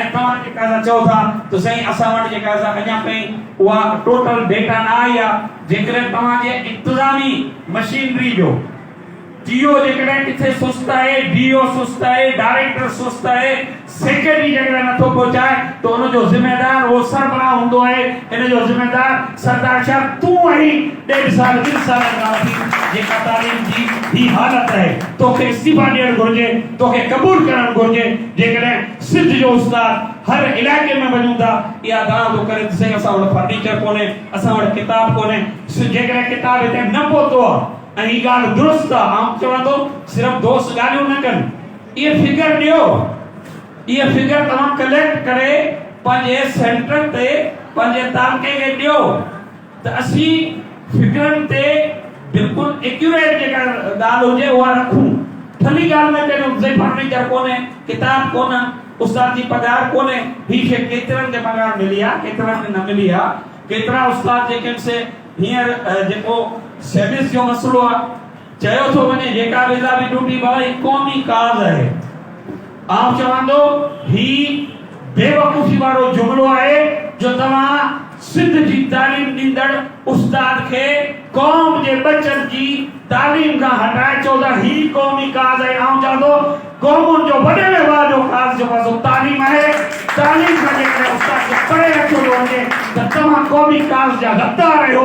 ۽ توهان جيڪا سا چئو ٿا ته سائين اسان وٽ جيڪا سا اڃا تائين اها ٽوٽل ڊيٽا نه آئي آهي جيڪڏهن توهان جي انتظامي مشينري جو ٽي او جيڪڏهن ڪٿي سست آهي ڊي او سست آهي ڊائريڪٽر سست آهي سيڪريٽري جيڪڏهن نٿو پهچائي ته ان جو ذميدار اهو سربراهه هوندو آهي ان جو ذميدار سردار شاهه تون آهين ڏيڍ سال ٻن سالن کان وٺي جيڪا تعليم جي هي حالت آهي توکي استعيفا ڏيڻ گهرجي توکي قبول ڪرڻ گهرجي جيڪڏهن سنڌ جو استاد هر علائقي ۾ وڃون ٿا اها دانهن ٿو ڪري ته سائين اسان وٽ فرنيچر ڪونهي اسان وٽ ڪتاب ڪونهي جيڪڏهن ڪتاب هتي نه پهتو آهي ۽ هي ڳالهه درست آهي آئون چوان ٿو صرف دوست ڳالهيون نه ڪن اهي فگر ڏيو. اهي فگر توهان ڪليڪٽ ڪري پنهنجي سينٽر تي پنهنجي تعلقي کي ڏيو ته اسين فگرن تي بلڪل ايڪيوريٽ جيڪا ڳالهه هجي اها رکون. ٺلهي ڳالهه نه ڪريون زي فرنيچر ڪونهي، ڪتاب ڪونه، استاد جي پگهار ڪونهي، هي شي ڪيترن کي پگهار ملي آ ڪيترن کي نه ملي آ، ڪيترا استاد جيڪي ان سي هينئر جيڪو سيويز جو مسئلو آ، چيو ٿو وڃي جيڪا به اضافي ڊيوٽي ڀرائي قومي ڪاز آهي آئون چوان ٿو هي بيوقوفي وارو جملو آهي جو توهان سنڌ جي تعليم ڏيندڙ استاد کي قوم جي ٻچن جي تعليم کان هٽائي چئو ٿا هي قومي ڪاز آهي آئون چوان ٿو قومن جو وڏي ۾ واجو ڪاز جيڪو آهي سو تعليم آهي تعليم کان جيڪڏهن استاد کي پري رکيو ٿو وڃي ته توهان قومي ڪاز جا غدار آهيو.